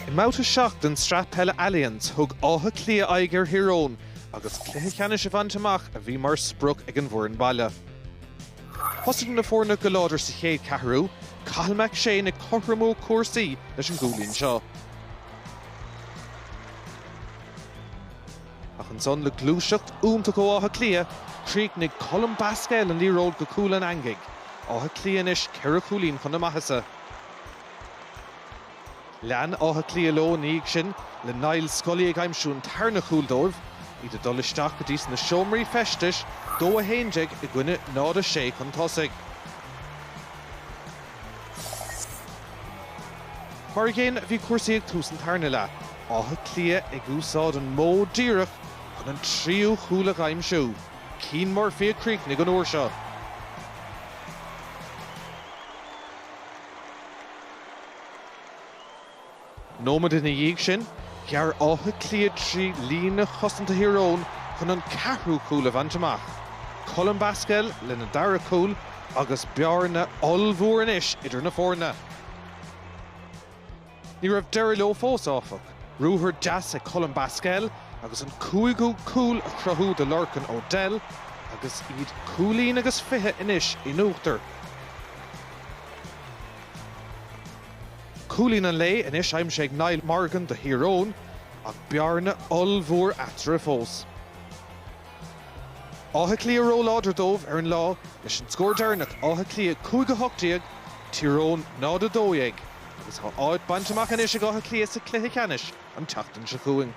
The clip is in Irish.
I mbabhta 7 den tsraith peile Allianz, thug Áth Cliath aghaidh ar Thír Eoghain agus cluiche ceannais a bhaint amach a bhí mar sprioc ag an bhfoireann baile. Thosaigh na foirne go láidir sa chéad ceathrú, Cathal McShane ag cothromú cúrsaí leis an gcúilín seo. Ach ansan, le gluaiseacht iontach ó Áth Cliath, chríochnaigh Colm Basquel an liathróid go cúl an eangaigh. Áth Cliath anois ceithre chúilín chun na maitheasa. Lean Áth Cliath leo ina dhiaidh sin, le Niall Scully ag aimsiú an tarna chúl dóibh, iad ag dul isteach go dtí sna seomraí feistis, 2 11 i gcoinne 0 6 chun tosaigh. Mar a gcéanna a bhí cúrsaí ag tús an tarna leath, Áth Cliath ag úsáid an modh díreach chun an tríú chúl a aimsiú. Cian Murphy a chríochnaigh an uair seo. nóiméad ina dhiaidh sin, ghearr Áth Cliath trí líne chosanta Thír Eoghain chun an ceathrú cúl a bhaint amach, Colm Basquel lena dara cúl, agus bearna ollmhór anois idir na foirne. Ní raibh deireadh leo fós, áfach. Ruathar deas ag Colm Basquel chun an cúigiú cúl a chruthú do Lorcan O'Dell agus iad cúilín agus fiche anois in uachtar. Cúilín an lae anois aimsithe ag Niall Morgan do Thír Eoghain ach bearna ollmhór eatarthu fós. Áth Cliath róláidir dóibh ar an lá leis an scór deireanach, Áth Cliath 5 18, Tír Eoghain 0 12, agus tá áit bainte amach anois ag Áth Cliath sa chluiche ceannais an tseachtain seo chugainn.